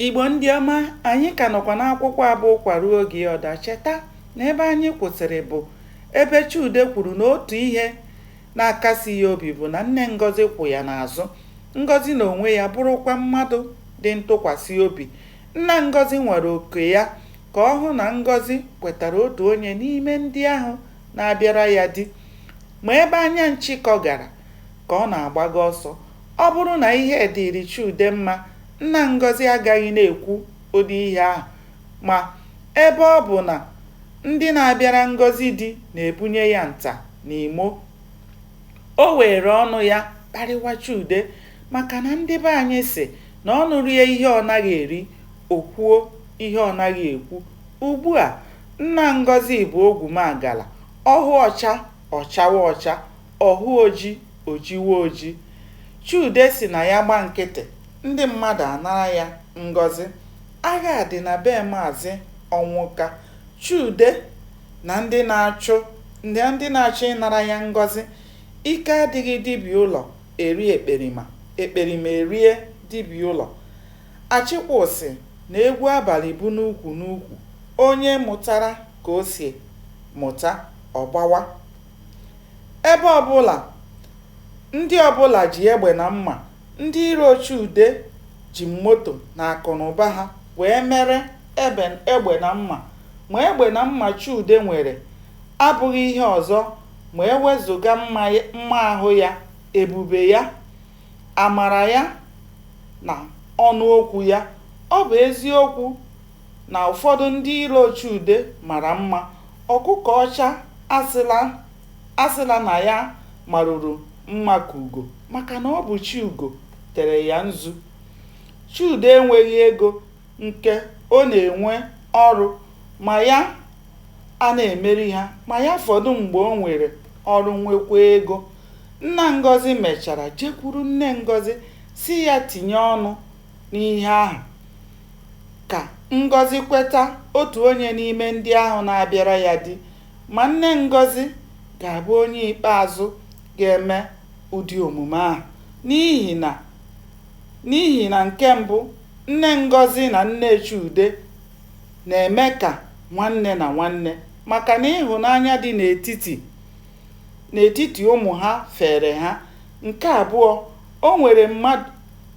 Igbo ndị ọma, anyị ka nọkwa n'akwụkwọ a bụ Ụkwa Ruo Oge Ya Ọ Daa. Cheta na ebe anyị kwụsịrị bụ ebe Chude kwuru na otu ihe na-akasi ya obi bụ na nne Ngozi kwụ ya n'azụ. Ngozi n'onwe ya bụrụkwa mmadụ dị ntụkwasị obi. Nna Ngozi nwara oko ya ka ọ hụ na Ngozi kwetara otu onye n'ime ndị ahụ na-abịara ya di. Ma ebe anya nshịkọ gara ka ọ na-agbaga ọsọ, Ọ bụrụ na ihe dịịrị Chude mma, nna Ngozi agaghị na-ekwu ụdị ihe ahụ. Ma, ebe ọ bụ na ndị na-abịara Ngozi di na-ebunye ya nta na imo, o were ọnụ ya kparịwa Chude maka na ndị be anyị sị na ọnụ rie ihe ọ naghị eri, o kwuo ihe ọ naghị ekwu. Ugbu a, nna Ngozi bụ ogwumagala, ọ hụ ọcha, ọ chawa ọcha. Ọ hụ oji, o jiwe oji. Chude sị na ya gba nkịtị, ndị mmadụ anara ya Ngozi. Agha dị na be Maazị Ọnwụka. Chude na ndị na-achụ na ndị na-achọ ịnara ya Ngozi. Ike adịghị di bi ụlọ eri ekperima, ekperima erie di bi ụlọ. Achịkwụ sị na egwu abalị bụ n'ụkwụ n'ụkwụ, onye mụtara ka o si mụta, ọ gbawa. Ebe ọbụla ndị ọbụla ji egbe na mma, ndị iro Chude ji moto na akụnụba ha wee mere egbe na mma. Ma egbe na mma Chude nwere abụghị ihe ọzọ ma e wezụga mma ahụ ya, ebube ya, amara ya na ọnụ okwu ya. Ọ bụ eziokwu. na ụfọdụ ndị iro Chude mara mma, ọkụkọ ọcha asịla asịla na ya maruru mma ka ugo maka na ọ bụ chi ugo tere ya nzu. Chude enweghị ego nke ọ na-enwe ọrụ ma ya a na-emeri ha ma ya fọdụ mgbe o nwere ọrụ nwekwaa ego. Nna Ngozi mechara jekwuru nne Ngozi sị ya tinye ọnụ n'ihe ahụ, ka Ngozi kweta otu onye n'ime ndị ahụ na-abịara ya di, ma nne Ngozi ga-abụ onye ikpeazụ ga-eme ụdị omume ahụ n'ihi na n'ihi na nke mbụ, nne Ngozi na nne Chude na-eme ka nwanne na nwanne maka na ịhụnanya dị n'etiti n'etiti ụmụ ha feere ha, nke abụọ, o nwere mmadụ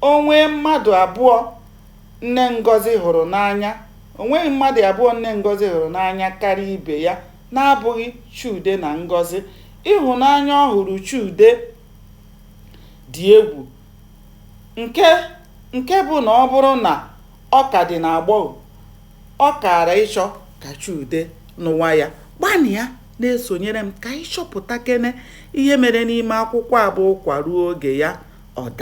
O nwee mmadụ abụọ nne Ngozi hụrụ n'anya O nweghị mmadụ abụọ nne Ngozi hụrụ n'anya karịa ibe ya na-abụghị Chude na Ngozi. Ịhụnanya ọ hụrụ Chude dị egwu nke bụ na ọ bụrụ na ọ ka dị n'agbọghọ, ọ kaara ịchọ ka Chude nụwa ya. Gbanịa na-esonyere m ka anyị chọpụtakene ihe mere n'ime akwụkwọ a bụ Ụkwa ruo oge ya ọ daa.